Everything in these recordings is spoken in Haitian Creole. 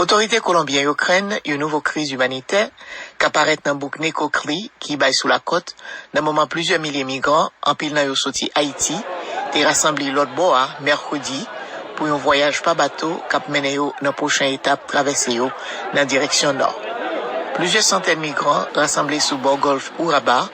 Otorite Kolonbyen yo krenn yon nouvo kriz imanitè ka parèt nan bouk Necoclí ki bay sou lakòt nan moman plizyè milye migran, anpil nan yo soti Ayiti, te rasanble lòt bò a mèkredi pou yon vwayaj pa bato k ap mennen yo nan pwochen etap travèse yo nan direksyon nò. Plizyè santèn migran rasanble sou bò gòlf Urabá,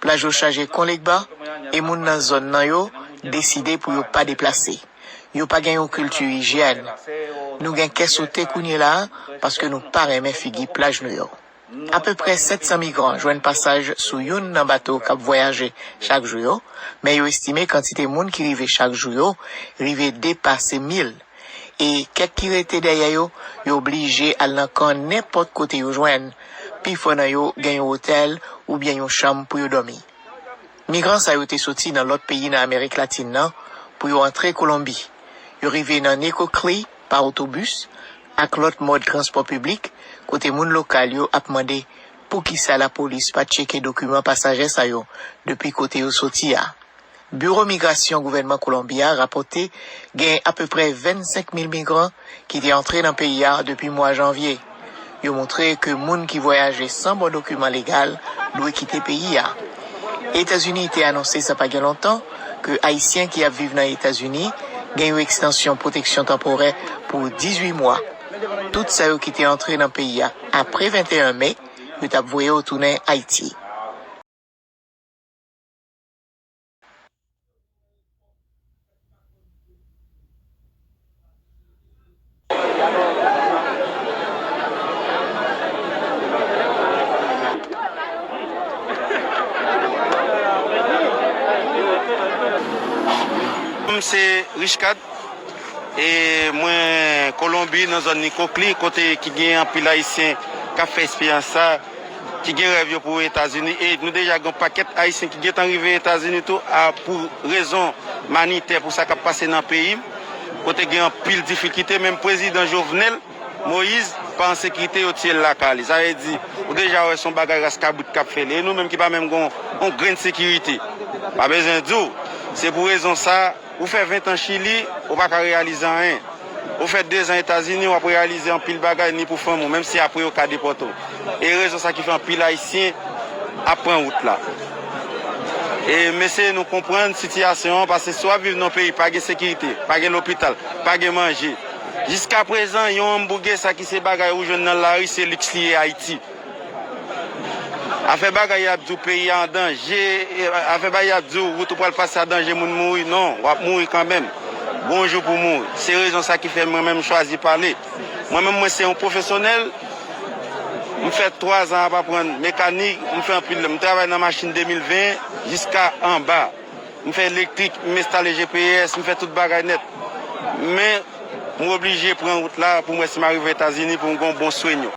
Plaj yo chaje kon Legba e moun nan zòn nan yo deside pou yo pa deplase. Yo pa gen yon kilti ijyèn. Nou gen kè sote kounyela a paske nou pa renmen figi plaj nou yo. Apeprè 700 migran jwenn pasaj sou youn nan bato k ap vwayaje chak jou yo, men yo estime kantite moun ki rive chak jou yo rive depase mil. E kèk ki rete dèyè yo, yo blije al nan kan nenpòt kote yo jwenn. Pifò nan yo gen yon otèl oubyen yon chanm pou yo dòmi. Migran sa yo te soti nan lòt peyi nan Amerik Latin nan pou yo antre Kolonbi. Yo rive nan Necoclí pa otobis ak lòt mòd transpò piblik kote moun lokal yo ap mande poukisa lapolis pa tcheke dokiman pasaje sa yo depi kote yo soti a. Biwo migrasyon gouvènman Kolonbi a rapòte gen apeprè 25 mil migran ki te antre nan peyi a depi mwa janvye. Yo moutre ke moun ki vwayaje san bon dokiman legal dwe kite peyi a. Etazini te anonse sa pa gen lontan ke Ayisyen ki ap viv nan Etazini gen yon ekstansyon pwoteksyon tanporè pou 18 mwa. Tout sa yo ki te antre nan peyi a apre 21 me, yo t ap voye yo tounen Ayiti. Nom se Richcard e mwen kolonbi nan zòn Nicoclí kote ki gen anpil ayisyen kap fè esperyans sa. ki gen rèv yo pou Etazini e nou deja gen yon pakèt Ayisyen ki gentan rive Etazini tou a pou rezon manitè pou sa k ap pase nan peyi m kote gen anpil difikite menm prezidan Jovenel Moise pa an sekirite yo tiye l lakay li sa vle di ou deja wè se yon bagay ras kabrit k ap fè li e nou menm ki pa menm gen yon grenn sekirite m pa bezwen di w se pou rezon sa. Ou fè 20 tan chili ou pa ka reyalize anyen ou fè 2 zan etazini wap reyalize anpil bagay ni pou fanmi w menm si apre yo ka depòte w e rezon sa ki fè anpil ayisyen ap pran wout la e m eseye nou konprann sitiyasyon an pase si wap viv nan yon peyi pa gen sekirite pa gen lopital pa gen manje jiskaprezan yon anmbouge sa ki se bagay ou jwenn nan lari se liks li ye ayiti. Afè bagay yap diw peyi a an danje afè bagay yap diw wout ou pral pase a danje moun mouri non wap mouri kanmenm gon jou pou mouri se rezon sa ki fè mwen menm chwazi pale mwen menm mwen se yon pwofesyonèl m fè 3 zan ap aprann mekanik m fè anpil m travay nan machin 2020 jiska anba m fè elektrik m enstale GPS m fè tout bagay nèt men m oblije pran wout la pou m wè si m arive etazini pou m gon bon swenyo.